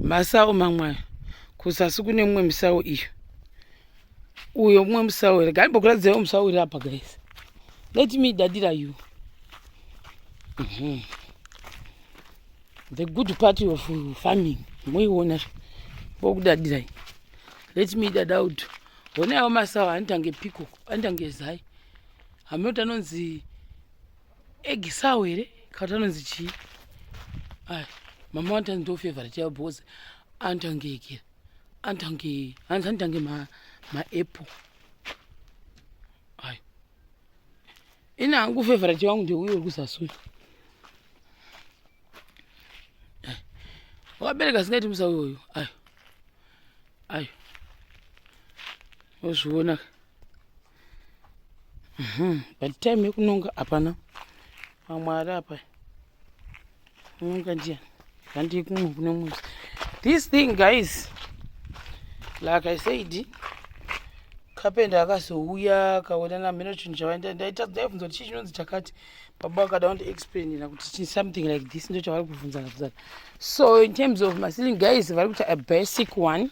masawo mamwe ayo kuzasi kune mumwe musawo iyo uyo mumwe musawo here gai mbokuradzirawo musawo iri apa guys let me dadira you mm -hmm. the good part of farming moiona zve bokudadirai let me dada uto hone awo masawo anotange piko anotange zai hameno kuti anonzi egisawo here kana kuti anonzi chii ay mama wani tanzi ndo favorite yavo because anotange ikira anotange hanzi anotange maapple ay ini hangu favorite wangu ndeuyo uri kuzasuya wakabereka singaiti musa uyoyo ayo ayo ozviona Mhm, but time yekunonga hapana vamwe ari apa unonga ndiya handii kumwe kune mumwe this thing guys like i said kapenda akazouya akaona namheno chinhu chavaenda ndaita ndaibvunza kuti chii chinonzi chakati baba vakada vandiexplainira kuti something like this ndo chavari kubvunzana bvunzana so in terms of masilling guys vari kuita a basic one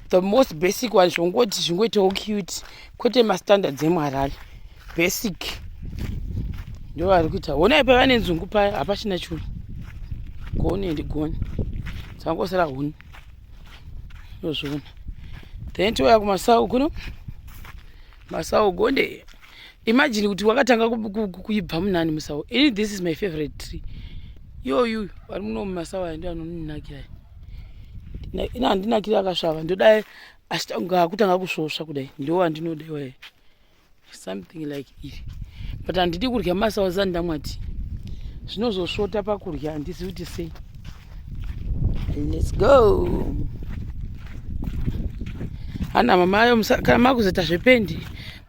the most basic one zvongoti zvingoitawo cute kwete mastandards emuharare basic ndo vari kuita honai pavane nzungu paya hapachina churu goni and goni dzangosara huni ndozviona then touya kumasau kuno masau gonde imagine kuti wakatanga kuibva munani musawo ini this is my favorite tree yoyu vari muno mumasawo aya ndo anoninakira ini handinakira akasvava ndodai achitanga akutanga kusvosva kudai ndo andinoda iwaye something like iri but handidi kurya masawo zani ndamwati zvinozosvota pakurya handisi kuti sei let's go hana mamayo kana makuzoita zvependi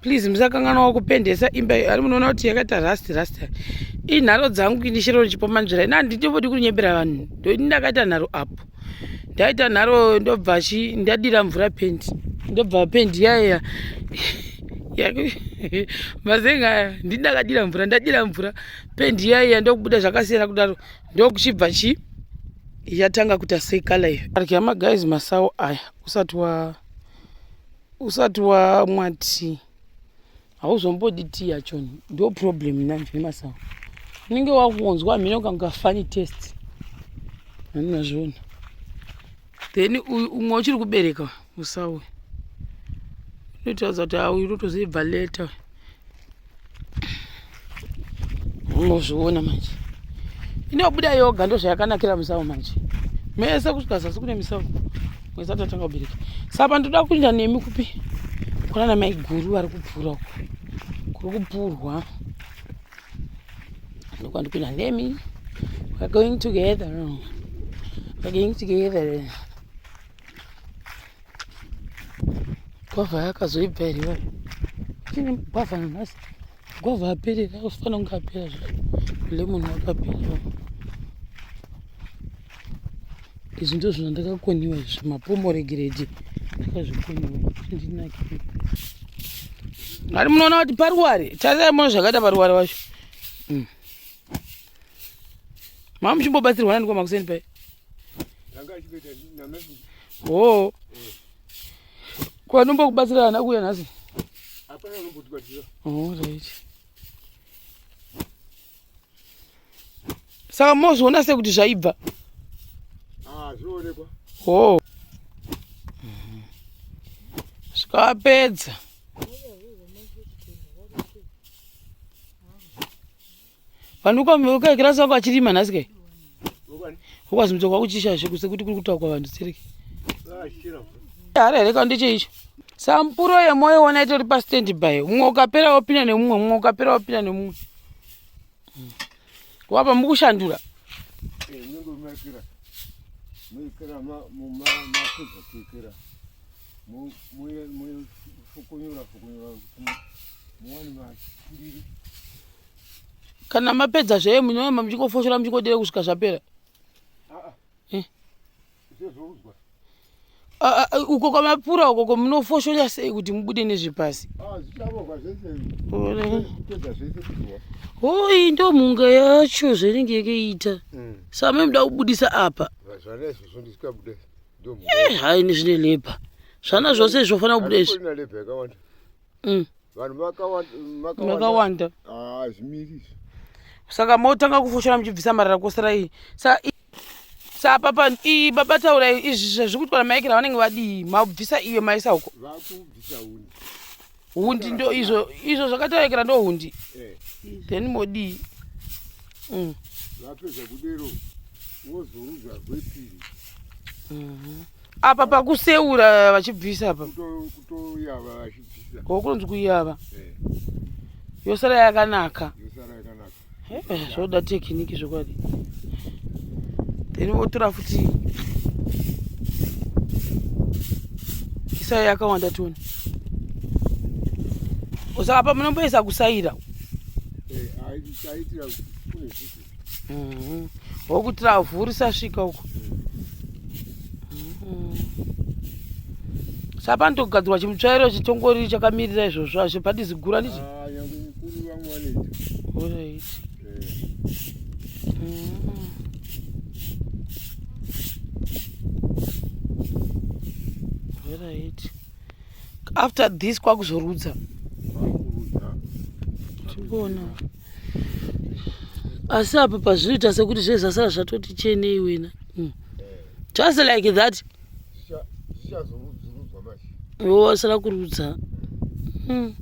please musakanganwa kupendesa imba iyo ari munoona kuti yakaita rust rust inharo dzangu ini shero richipomanzvira ini handitobodi kunyebera vanhu ndoini ndakaita nharo apo ndaita nharo ndobva chi ndadira mvura pendi ndobva pendi yaya mazenga aya ndini ndakadira mvura ndadira mvura pendi yaya ndokubuda zvakasiyana kudaro ndokuchibva chi yatanga kuita sekala iyo arya magaizi masawo aya usati wa usati wamwa tii hauzombodi tii yachoni ndo problem nanje nemasawa unenge wakunzwa mhino kanga funny test anazviona then uyu umwe uchiri kubereka musawe unotaudza kuti auyunotozoibva leta mozviona manje inobuda yoga ndozvayakanakira musau manje mese kusvika zasi kune misau mwezi atatanga kubereka sapa ndoda kuenda nemi kupi kuna na maiguru vari kupfuura uko kuri kupfurwa ndokuva ndikuenda nemi weare going together weare going together gwavha yakazoibva here iwayo chine gwavha nanhasi gwavha aperera usifanira kunge apera zvayo lemon wakaperera izvi ndizvo zvandakakoniwa izvi mapomoregeredi ndakazvikoniwa ndinake ari munoona kuti paruware tarirai mona zvakaita paruware wacho mm. mama muchimbobatsirwa nani kwamakuseni pai hoo kwanombo kubatsira ana kuya nhasi right saka mozviona se kuti zvaibva ah, hoo zvikapedza vanhu ukakirasi wako achirima nhasi kai ukwazi mutoko wakuchishashe kuse kuti kuri kutaukwa vanhu stereki hari here ka ndecheicho sampuro yemoyo wona itori pastand by mumwe ukapera wopinda nemumwe mumwe ukapera wopinda nemumwe hmm. wapa mukushandura eh, kana mapedza zvee munoyamba muchingofoshora muchingodira kusvika zvapera uko kwamapura uko kwamunofoshora sei kuti mubude nezvepasi hoi ndo mhunga yacho zvainenge yakaita same muda kubudisa apa eh, hai ni zvine lebha zvana zvose zvofanira kubuda izvi mm. makawanda ah, saka motanga kufoshora muchibvisa marara kosara iyi sa papa iyi baba taurai izvi zvazviri kutwara maekera vanenge vadii mabvisa iyo maisa uko vakubvisa huni hundi ndo izvo izvo zvakatarekera ndo hundi eh. then modii mm. vapedza kudero wozorudza gwepiri mhm. apa pakuseura vachibvisa apa kutoyava vachibvisa ko kunonzi kuyava eh. yosara yakanaka yosara yakanaka eh, zvoda tekiniki zvokwadi then votora futi isai yakawanda tione osaka pa munomboisa kusaira wokuti ravhu risasvika uko sapa ndogadzirwa chimutsvairo chitongori chakamirira izvozvo hazvipadi zigura ndichi ah, Kuri vamwe vanoita. Alright. Eh. Mm. Alright. After this kwakuzorudza. Vakurudza. Tikuona. Asi apa pazvinoita sekuti zvezasara zvatoti chenei wena. Mm. Just like that. zvichazorudzwa manje iwo wasara kurudza hmm.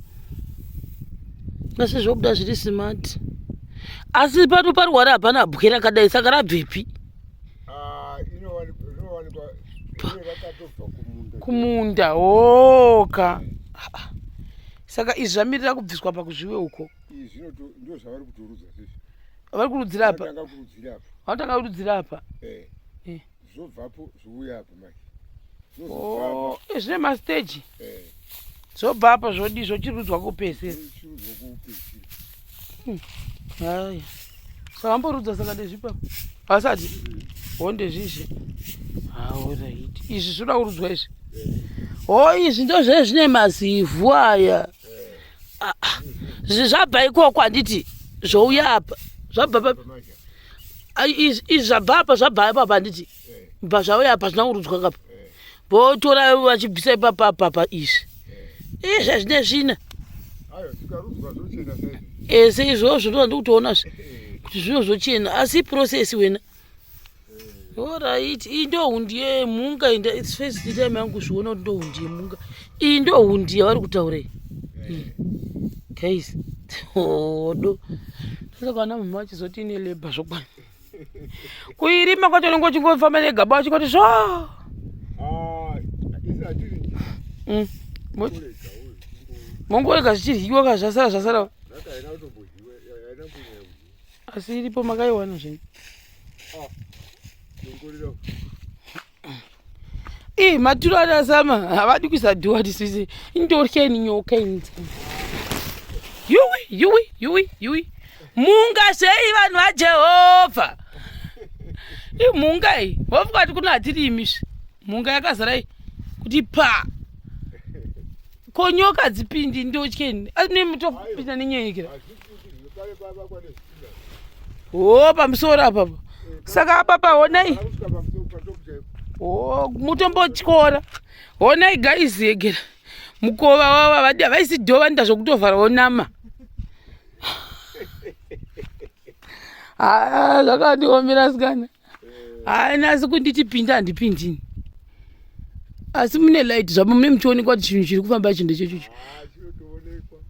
asi zvobuda zviri smart asi pano parwara hapana bwe rakadai saka rabvepi ah, kumunda oka saka izvi zvamirira kubviswa pakuzviwe uko vari kurudzira apa vanotanga kurudzira apa eh. zvobvapo zvouya apo manje oh, eh, zvine masteji eh. zvobva apa zvodi zvochirudzwa kupesera hmm. haya savamborudza saka ndezvipa vasati ho ndezvizvi haoraiti izvi zvinoda kurudzwa izvi ho oh, izvi ndozve zvine mazivhu aya ah, ah. zvabva ikoko handiti zvouya apa zvabva pa izvi zvabva apa zvabva apa apa handiti bva zvauya apa zvina kurudzwa kapa votora vachibvisa ipapa apa apa izvi izvi zvine svina ese izvozvo ndozvandikutoona zve kuti zvino zvochena asi process wena Alright, iyi ndo hundi yemhunga inda it's first time yangu kuzviona kuti ndo hundi yemhunga. Iyi ndo hundi yavari kutaura iyi. Guys, hodo. Saka kana mama achizoti ine labor zvokwana. Kuirima kwacho unenge uchingofamba negaba wachingoti zvo. Ah, isi atiri. Mm. Mongorega zvichiryiwa kazvasara zvasara. Zvakaenda kutombo asi iripo makaiwana zvenyu ah, ii maturo anasama havadi kuisa dhuwa tisisi indorya ini nyoka ini yuwi yuwi yuwi yuwi mhunga zvei vanhu vajehovha imhunga iyi vofuka kuti kuno hatiri imisvi mhunga yakazara iyi kuti pa ko nyoka dzipindi ndotyeni asi nemutopinda nenyenyekera ah, Oh, pamusoro apa saka apa pahonai oh, mutombotyora honai guys yegera mukova wava vadi havaisi dhova nda zvokutovhara wonama haa ah, zvakandiomera sikana haana asi kunditi pinda handipindini asi mune light zvamo mune muchionekwa kuti chinhu chiri kufamba chinhu chechocho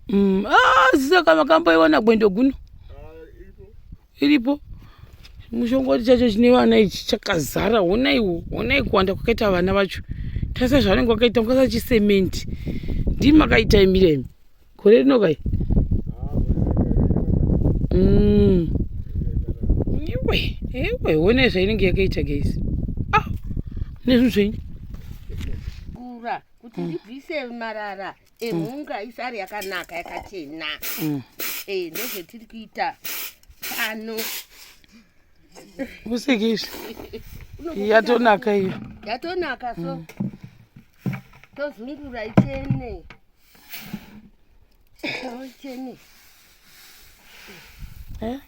mm, ah, saka makamboiwana gwendo guno iripo mushongoti chacho chine vana ichi chakazara honaiwo honai kuwanda kwakaita vana vacho tasa zvavanenge vakaita mukasa chisementi ndimi makaita imiremi gore rino kai mm. iwe iwe one zvainenge yakaita guys a ah, nezvinhu zvenyu kura kuti mm. ndibvise marara emhunga mm. isari yakanaka yakachena mm. eh, ndozvetiri kuita pano useke izvi yatonaka iyo yatonaka so tozungura ichene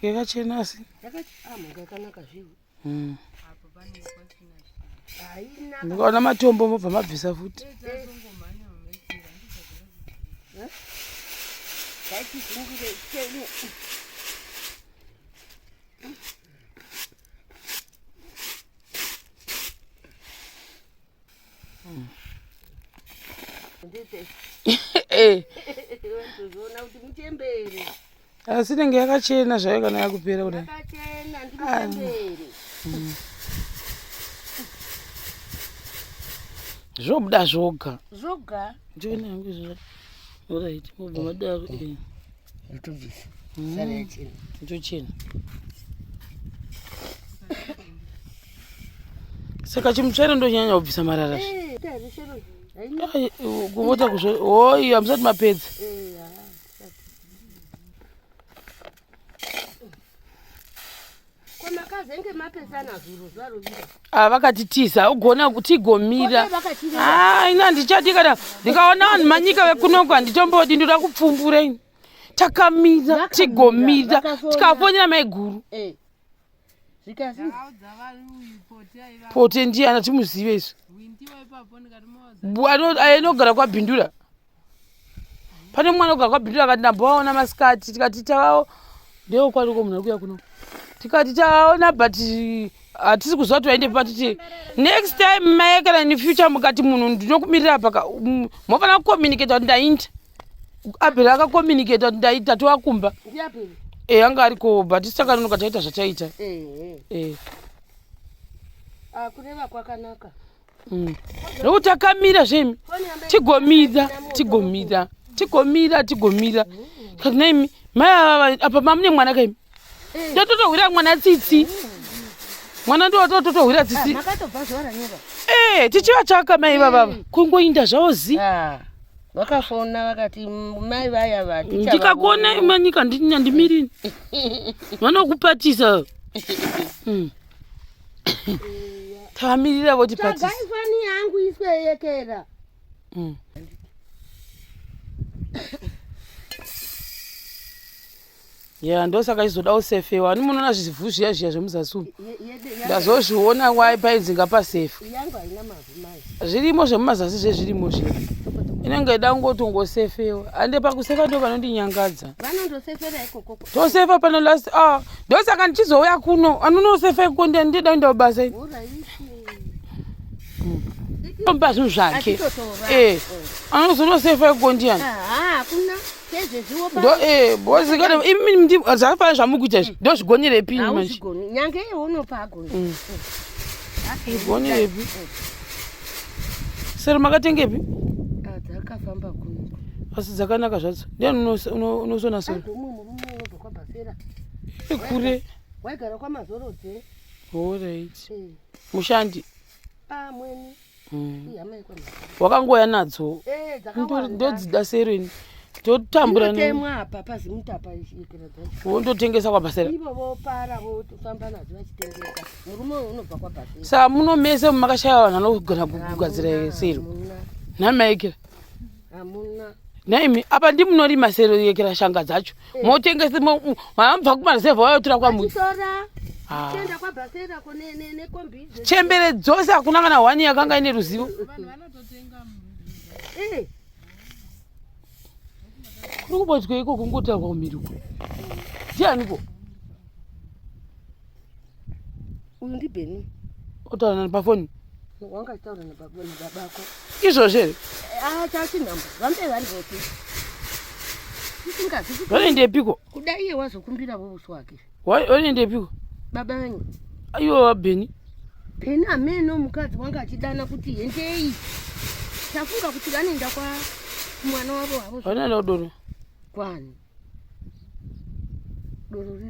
yakachena eh, asi hmm. mukaona matombo mobva mabvisa futi eh. asi inenge yakachena zvayo kana yakupera kudai zvobuda zvoga zvoga ndiona yangu zvoraiti mobva madaro Ndotobvisa. Mm. Sara yachena. Ndochena. Saka chimutsvere ndonyanya kubvisa marara. Eh, Ai, kuvota kuzvo. Oi, hamsati mapedza. Eh, ah. Ah, vakatitiza ugona kutigomira ah, ina ndichadi kana ndikaona vanhu manyika vekunoko handitombodi ndoda kupfumbura ini takamira tigomira tikafonera maiguru eh. pote ndiye anatimuzive isu anogara kwabhindura pane mwana oga kwabhindira akati ndambovaona masikati tikati tavawo ndewo kwariko munhu ari kuya kuno tikati tavaona but hatisi kuziva kuti vaende patiti next time maye kana in future mukati munhu ndinokumirira paka mofanira kucommunicata kuti ndainda abheri akakomunicata kuti ndaita towakumba e anga ariko but isakanonoka taita zvataita e. Ah, kureva kwakanaka Mm. Nokuti akamira zvemi tigomira tigomira tigomira tigomira kati naimi mai ava apa mamune mwana kaimi eh. ndototohwira mwana tsitsi mwana ndototohwira tsitsi ah, ee eh, tichiva chaka mai vavava eh. kungoinda zvavo zi ah, vakafona vakati mai vaya vati ndikakuona imanyika ndimirini vanokupatisa mm. tamirira voti patifani yangu isweyekera mm. ya ndosaka izoda usefe wani munoona zvivhu zviya zviya zvemuzasi umu ndazozviona wai painzi ngapasefe yangu haina mabvu zvirimo zvemumazasi zvezvirimo zviya inenge ida kungotongosefewa ande pakusefa ndo vanondinyangadza tosefa pano last ah, ndosaka ndichizouya kuno anonosefa iko ndida inda kubasa omba zvinhu zvake anozonosefa iko ndiyani zvakafanira zvamukuita izvi ndo zvigonerepi zvigonerepi sero makatengepi asi dzakanaka zvadzo ndiani unosona sero kure waigara kwamazorodze horit mushandi amweni mm. wakangouya nadzo eh, ndodzida serini totamburawondotengesa kwabhasera sa muno mese makashaya vanhu anogona kugadzira sero nhamaekera nhaimi apa ndimunorima sero yekera shanga dzacho motengese mabva kumaruzevha wayotora kwambuzi ah. chembere dzose hakuna kana hwani yakanga ine ruzivo eh. kuri kubodzwa iko kungotaurwa kumhiri uko ndianiko uyu ndibheni otaura nani pafoni wanga achitaura nababako izvozvo here ah, chachinhambo vambe vari vopi vanoendepiko kuda iye wazokumbira vovusi wake vanoendepiko baba venyu aiwa vabheni bheni ameno mukadzi wanga achidana kuti hendei tafunga kuti vanoenda kwa mwana wavo havo vanoenda kudoro kwani doro